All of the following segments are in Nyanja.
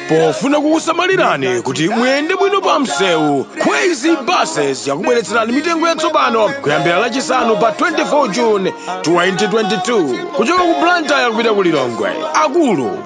pofuna kukusamalirani kuti muyende bwino pa msewu Kwezy buses yakubweretserani mitengo yatsopano kuyambira lachisanu pa 24 june 2022 kuchoka ku blantyre kupita ku lilongwe akulu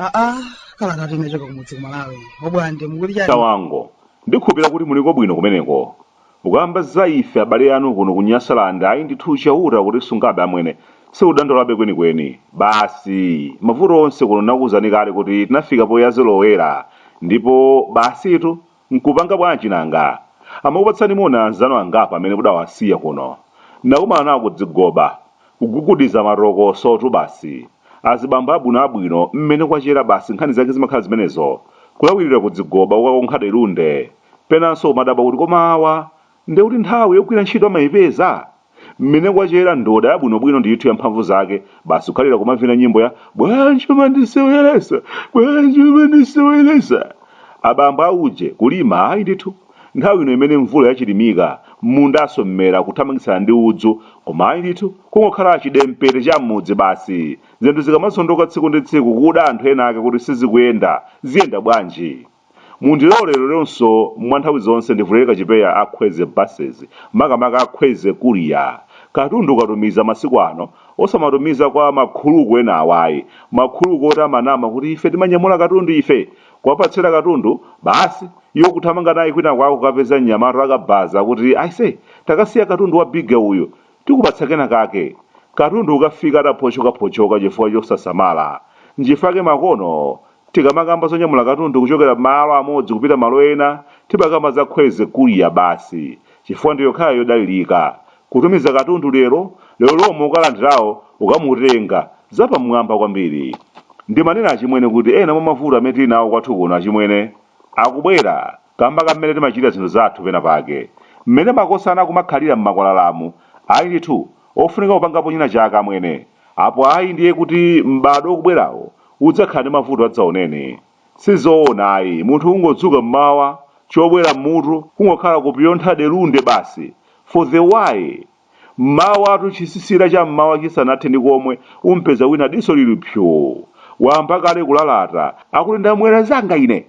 aa kalata yochoka kumudzi kumalawi obwande mukuti chani Tawonga ndikhulupirira kuti muliko bwino kumeneko Kukamba za ife abale anu kuno ku Nyasaland ayi ndithu Chauta akutisungabe amwene. Sikudandaulabe kwenikweni. Basi mavuto onse kuno ndakuuzani kale kuti tinafika poyazolowera ndipo basitu nkupanga bwanji nanga? Amakupatsani moni anzanu angapo amene mudawasiya kuno. Ndinakumana nawo kudzigoba, kugugudiza matokosotu basi. Azibambo abwino abwino mmene kwachera basi nkhani zake zimakhala zimenezo. Kulawilira kudzigoba ukakonkha delunde. Penanso umadabwa kuti koma awa nde kuti nthawi yogwira ntchito amaipeza? Mmene kwachera ndoda yabwinobwino ndithu ya mphamvu zake basi kukhalira kumavina nyimbo ya bwanji umandiseweresa, bwanji umandiseweresa. Abambo a uje kulima ayi ndithu. Nthawi ino imene mvula yachilimika, mmundanso mmera kuthamangitsana ndi udzu koma ayi ndithu kungokhala chidempete cha mmudzi basi. Zinthu zikamazondoka tsiku ndi tsiku kuda anthu enaake kuti sizikuyenda, ziyenda bwanji? Mundilole leronso mwa nthawi zonse ndivulere kachipeya a Kwezy Buses makamaka a Kwezy Courier. Katundu ukatumiza masiku ano osamatumiza kwa ma khuluku ena awa ayi. Ma khuluku oti amanama kuti ife timanyamula katundu ife! Kuwapatsira katundu, basi iwo kuthamanga naye kwinakwako kukapeza mnyamata wakabaza kuti aise takasiya katundu wa bigger uyu. Tikupatsa kenakake. Katundu kukafika ataphotchokaphotchoka chifukwa chosasamala. Nchifukwa chake makono tikamakamba zonyamula katundu kuchokera malo amodzi kupita malo ena, timakamba za Kwezy Courier basi chifukwa ndi yokhayo yodalirika. Kutumiza katundu lero, lero lomwe wokalandirayo kukamutenga. Zapamwamba kwambiri. Ndimanena achimwene kuti ena mwa mavuto amene tili nawo kwathu kuno achimwene akubwera. Kamba ka mmene timachitira zinthu zathu pena pake, mmene makosana akumakhalira mmakwalalamu, ayi ndithu, ofunika kupangapo china chake amwene, apo ayi ndiye kuti m'badwo ukubwerawo udzakhala ndi mavuto adzaoneni. Sizoona ayi, munthu kungodzuka mmawa, chobwera mmutu kungokhala kupyontha delunde basi for the why? Mmawatu chisisira cha mmawa chisanathe ndi komwe, umpeza wina diso lili psu! Wayamba kale kulalata, akuti ndamwera zanga ine!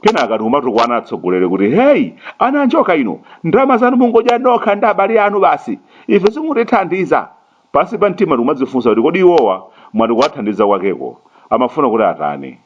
kenaka tikumatukwana atsogoleri kuti heyi ana anjoka inu ndalama zanu mungodya nokha ndi abale anu basi ife simutithandiza pansi pa mtima tikumadzifunsa kuti kodi iwowa mwati kuwathandiza kwakeko amafuna kuti atani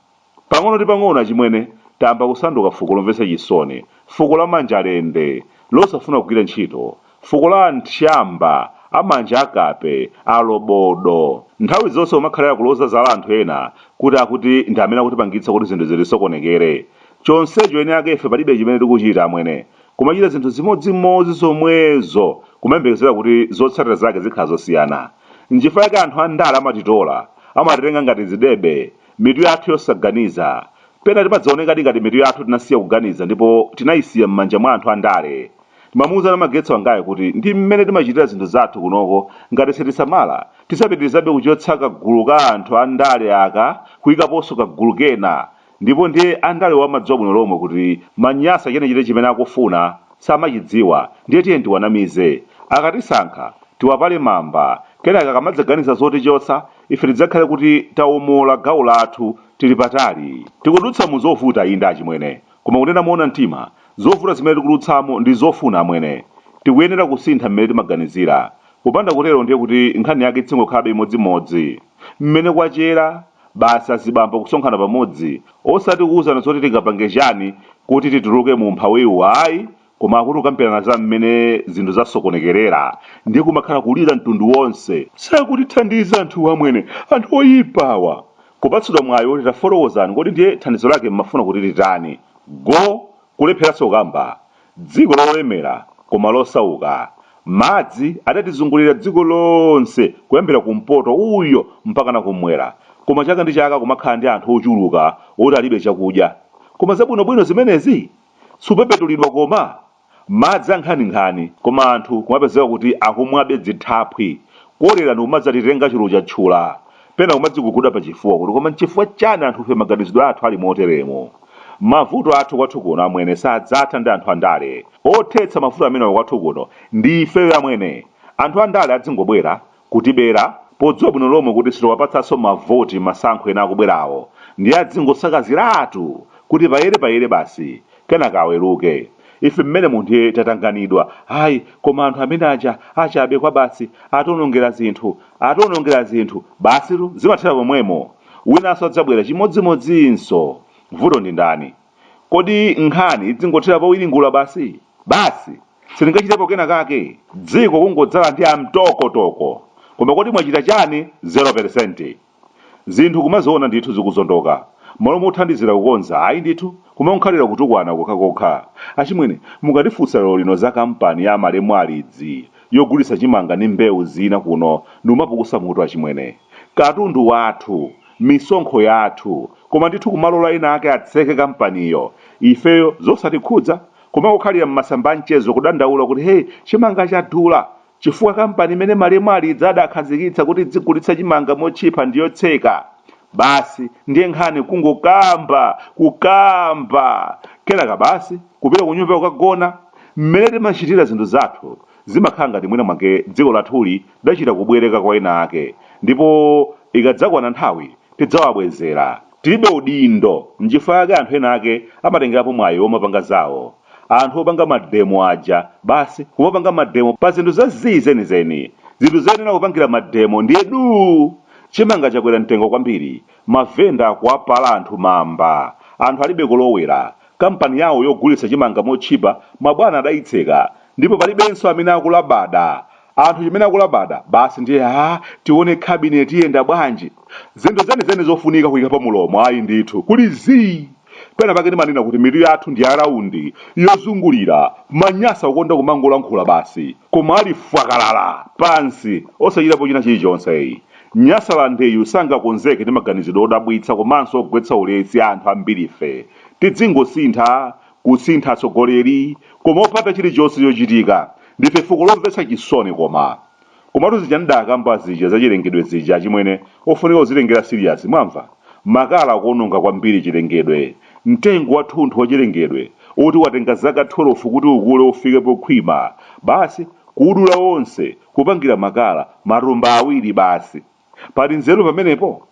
pang'ono ndi pang'ono achimwene tayamba kusanduka fuko lomvetsa chisoni fuko la manja lende losafuna kugwira ntchito Fuko la antchyamba, amanja, akape, alobodo. Nthawi zonse kumakhalira kuloza zala anthu ena kuti akuti ndi amene akutipangitsa kuti zinthu zitisokonekere. Chonsecho eni ake ife palibe chimene tikuchita amwene. Kumachita zinthu zimodzimodzi zomwezo kumayembekezera kuti zotsatira zake zikhala zosiyana. Nchifukwa chake anthu a ndale amatitola. Amatitenga ngati zidebe. Mitu yathu yosaganiza. Pena timadzaonekadi ngati mitu yathu tinasiya kuganiza ndipo tinayisiya m'manja mwa anthu a ndale. Timamuuza Namagetso wangayo kuti ndi mmene timachitira zinthu zathu kunoko, ngati sitisamala, tidzapitirizabe kuchotsa kagulu ka anthu a ndale aka kuikaponso kagulu kena ndipo ndiye andalewo amadziwa bwino lomwe kuti Manyasa chenicheni chimene akufuna samachidziwa ndiye tiyeni tiwanamize. Akatisankha, tiwapale mamba, kenaka akamadzaganiza zotichotsa, ife tidzakhale kuti tawomolola gawo lathu tili patali. Tikudutsa mu zovuta, inde achimwene. Koma kunena moona mtima, zovuta zimene tikudutsamo ndi zofuna, amwene. Tikuyenera kusintha mmene timaganizira. Kupanda kutero ndiye kuti nkhani yake idzingokhalabe imodzimodzi. Mmene kwachera, basi azibambo kusonkhana pamodzi, osati kuuzana zoti tingapange chani kuti tituluke mu umphawiwu ayi, koma akuti kukambirana za mmene zinthu zasokonekerera ndiye kumakhala kulira mtundu wonse sakutithandiza anthuwa amwene anthu oyipawa kupatsidwa mwayi woti tafotokozani kodi ndiye thandizo lake mmafuna kuti titani go kulepheranso kukamba dziko lolemera koma losauka madzi adatizungulira dziko lonse kuyambira kumpoto uyo mpaka na kumwera koma chaka ndi chaka kumakhala ndi anthu ochuluka oti alibe chakudya koma zabwinobwino zimenezi supepetulidwa koma? madzi ankhaninkhani koma anthu kumapezeka kuti akumwabe dzithaphwi, kolera ndikumadzatitenga chulu cha tchula, pena kumadziguguda pachifuwa kuti koma nchifukwa chani anthufe maganizidwe athu ali moteremu? mavuto athu kwathu kuno amwene sadzatha ndi anthu andale, othetsa mavuto amenewa kwathu kuno ndi ifeyo amwene, anthu andale adzingobwera kutibera podziwa bwino lomwe kuti sitiwapatsanso mavoti m'masankho ena akubwerawo ndiye adzingosakaziratu kuti payere payere basi kenaka aweruke ife mmenemo ndiye tatanganidwa ayi koma anthu amene aja achabe kwabasi ationongera zinthu ationongera zinthu basitu zimathera pomwemo winanso adzabwera chimodzimodzinso vuto ndi ndani Kodi nkhani idzingothera powiringula basi? Basi! Sitingachitepo kena kake? Dziko kungodzala ndi amtoko toko! Koma kodi mwachita chani? Zero peresenti! Zinthu kumaziona ndithu zikuzondoka, mmalo mothandizira kukonza ayi ndithu kumankhalira kutukwana kokhakokha. Achimwene, mukandifunsa lerolino za kampani ya malemu Alidzi yogulitsa chimanga ndi mbewu zina kuno ndi kumapukusa mutu achimwene. Katundu wathu! misonkho yathu koma ndithu kumalola ena ake atseke kampaniyo ifeyo zosatikhudza kumangokhalira mmasamba a mchezo kudandaula kuti hey chimanga chadula chifukwa kampani imene malemu Alidzi adakhazikitsa kuti idzigulitsa chimanga motchipa ndi yotseka basi ndiye nkhani kungokamba kukamba kenaka basi kupita kunyumba kukagona mmene timachitira zinthu zathu Zimakhala ngati mwina mwake dziko lathuli tidachita kubwereka kwa ena ake ndipo ikadzakwana nthawi tidzawabwezera. Tilibe udindo. Nchifukwa chake anthu ena ake amatengerapo mwayi womapanga zawo. Anthu opanga mademo aja, basi kumapanga mademo pa zinthu za zii zenizeni. Zinthu zoyenera kupangira mademo ndiye duu! Chimanga chakwera mtengo kwambiri, mavenda akuwapala anthu mamba, anthu alibe kolowera, Kampani yawo yogulitsa chimanga motchipa mabwana adayitseka ndipo palibenso amene akulabada. Anthu chimene akulabada basi ndiye aa tione cabinet iyenda bwanji. Zinthu zenizeni zofunika kuyika pa mulomo ayi ndithu kuli zii. Pena pake ndimanena kuti mitu yathu ndi ya raundi, yozungulira, manyasa kukonda kumangolankhula basi. koma ali fwakalala pansi osachitapo china chilichonse eyi nyasalandeyu sangakonzeke ndi maganizidwe odabwitsa komanso ogwetsa ulesi a anthu ambirife tidzingosintha kusintha atsogoleri koma opanda chilichonse chochitika ndife fuko lomvetsa chisoni koma komatu zija ndidakamba zija zachilengedwe zija achimwene ofunika kuzilengera serious mwamva makala akuononga kwambiri chilengedwe Mtengo wathunthu wachilengedwe woti watenga zaka 12 kuti ukule ufike pokhwima, basi kuudula wonse kupangira makala, matumba awiri basi! Pali nzeru pamenepo?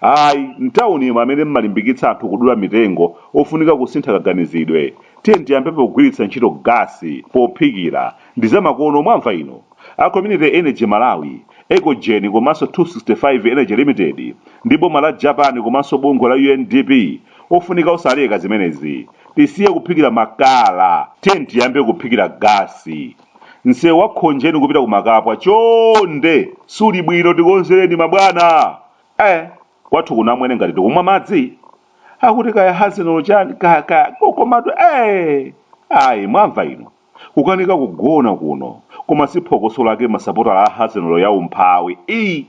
Ayi, m'taunimu amene mumalimbikitsa anthu kudula mitengo ofunika kusintha kaganizidwe. Tiyeni tiyambe pogwiritsa ntchito gasi pophikira ndi zamakono mwamva inu. A Community Energy Malawi, Ecogen komanso 265 Energy Limited ndi boma la Japan komanso bungwe la UNDP ofunika osaleka zimenezi. Tisiye kuphikira makala, tiyeni tiyambe kuphikira gasi. Msewu wa Khonjeni kupita ku Makapwa chonde suli bwino tikonzereni mabwana. Eh, kwathu ku Namwene ngati tikumwa madzi. Akuti kaya hazinolo chani kaya kaya kokomatu eh. Ayi mwamva inu. Kukanika kugona kuno koma si phokoso lake masapotala a Hazenolo ya umphawi ii!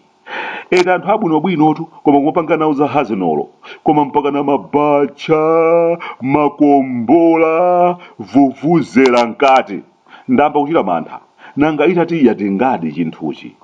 Eti anthu abwinobwinotu koma kumapanga nawo za Hazenolo koma mpakana mabacha, makombola, vuvuzela mkati. Ndayamba kuchita mantha. Nanga itati yatingadi chinthuchi?